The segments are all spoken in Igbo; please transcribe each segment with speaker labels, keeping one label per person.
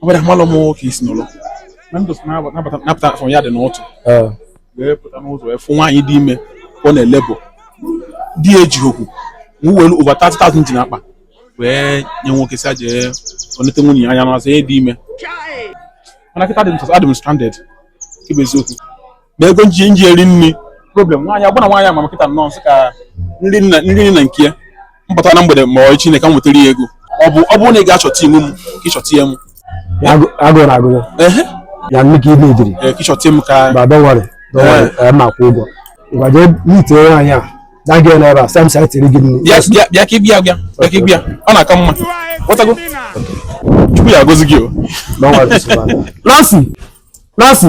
Speaker 1: ọ bụrụ amalụ m ka isi n'ụlọ na ndụ napụta afọ ya dị n'ụtụtụ wee pụta n'ụzọ wee fụ nwaanyị dị ime ọ na-elebo di ya ejighị okwu m welu over 30,000 dị n'akpa wee nye nwoke sị ya jee nete nwunye ya anya n'azụ ya dị ime mana kịta adị m stranded ịbụ eziokwu na ego m ji m ji eri nri problem nwaanyị agbana nwaanyị ama kịta nnọọ m sị ka nri nna nri nri na nke ya mpụta na mgbede ma ọ echi na ka m nwetara ya ego ọ bụ ọ bụrụ na ị ga-achọta iwu m ka ị chọta ya m Ya agụ- agụụ na-agụ ehe ya nne ka ị na-ejiri ee, ka ị chọta m ka ma don't worry don't worry ee, ma kwụ ụgwọ ngwa jee meet nwaanyị a na gị n'ebe a sam sa tiri gị nri bịa bịa bịa ka ị bịa bịa bịa ka ị bịa ọ na-aka mma ghọtago chukwu ya agọzi gị o don't worry sịkwara. Nancy Nancy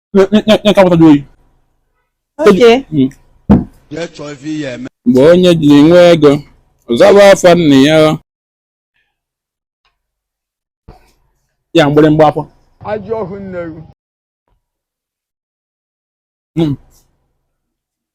Speaker 2: nkapụtaji oyi hmm.
Speaker 1: mgbe onye ji nwe ego ọ zaba afa nna ya ya mgbịrịmgba afọ ajọ ọhụ nne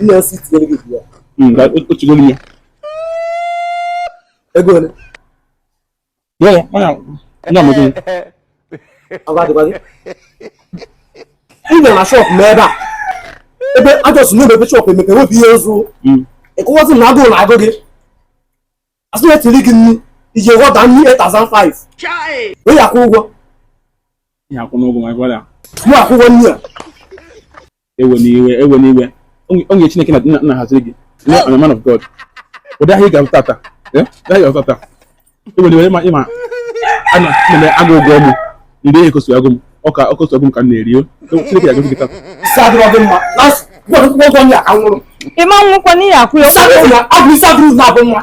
Speaker 3: ihe m
Speaker 1: sị tinyere gị ya otigoro
Speaker 3: ya ego ole ị gara na shop m ebe a ebe a just na ebe shop emepe wepụ ihe ọzọ ị kwuwazi na agụụ na-agụ gị a sị ya tiri gị nri ị jee order nri 8500 wee ya
Speaker 1: akwụ ụgwọ mụ akwụ ụgwọ nri a
Speaker 3: ewena iwe
Speaker 1: ewena iwe onye chineke na nna haziri gị I'm a man of God ụdị ahịa ị ga-azụ tata eh? ahịa ị ga-azụ tata ewena iwe ịma ịma ana m akwụ ụgwọ ọ mụ ndị ihe ka ọ si agụ m ọ ka ọ si agụ m ka m na-eri o chineke ya-agọzi gị
Speaker 3: tata ịma nwụkwa
Speaker 2: n'ihi akwụ ya ụgwọ ịsa abụrụ na
Speaker 3: abụ nwa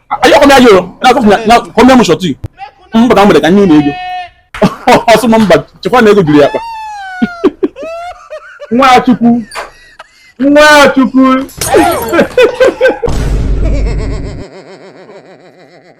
Speaker 1: anyị come here yo na come here m shọtụ mba ka m gbere ka nye unu ego ọ sị m mba chekwa na ego juru ya akpa nwachukwu nwachukwu